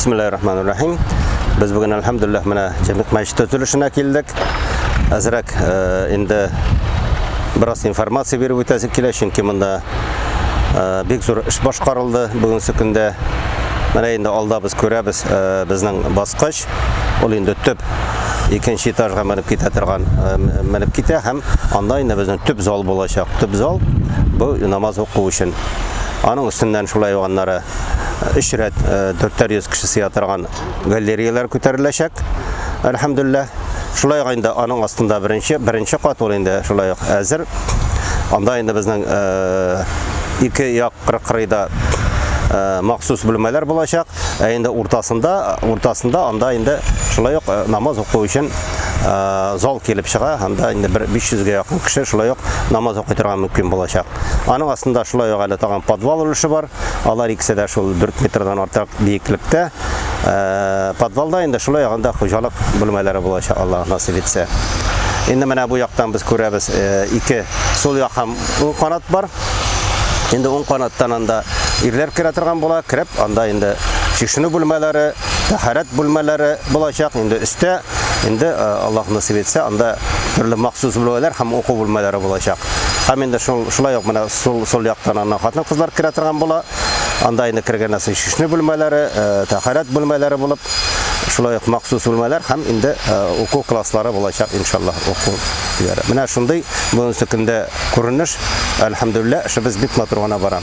Бисмиллахир-рахманир-рахим. Без бүген әлхәмдүлилләх менә Җәмигъ мәчете төзелешенә килдек. Әзрәк э, инде бераз информация биреп үтәсе килә, чөнки монда э, бик зур эш башкарылды бүгенге көндә. Менә инде алда без күрәбез э, безнең баскыч. Ул инде төп икенче этажга менеп китә торган менеп китә һәм анда инде безнең төп зал булачак. Төп зал бу намаз уку өчен. Аның өстеннән шулай ук аннары өч рәт дүртәр йөз кеше сыя торган галереялар күтәреләчәк әлхәмдулилла шулай ук инде аның астында беренче беренче кат ул инде шулай ук әзер анда инде безнең ике як кырыйда махсус бүлмәләр булачак ә инде уртасында уртасында анда инде шулай ук намаз уку өчен зал килеп чыга анда инде бер биш йөзгә якын кеше шулай ук намаз укый торган мөмкин булачак Аның астында шулай ук әле тагын подвал өлеше бар. Алар икесе дә шул 4 метрдан артык биеклектә. Э, подвалда инде шулай ягында хуҗалык бүлмәләре булачак, Аллаһ насыйп итсә. Инде менә бу яктан без күрәбез, э, ике сул як һәм уң канат бар. Инде уң канаттан анда ирләр керә торган була, кереп анда инде чишенү бүлмәләре, тәһарәт бүлмәләре булачак. Инде өстә Инде Аллаһ насыйп итсә, анда төрле махсус бүлмәләр һәм уку бүлмәләре булачак. Һәм инде шул шулай ук менә сул сул яктан ана хатын-кызлар керә торган була. Анда инде кергәннән соң чишнү бүлмәләре, тәһарәт бүлмәләре булып, шулай ук махсус бүлмәләр һәм инде уку класслары булачак, иншаллаһ, уку яре. Менә шундый бүгенге көндә күренеш. Әлхәмдүлилләһ, эшебез бик матур гына бара.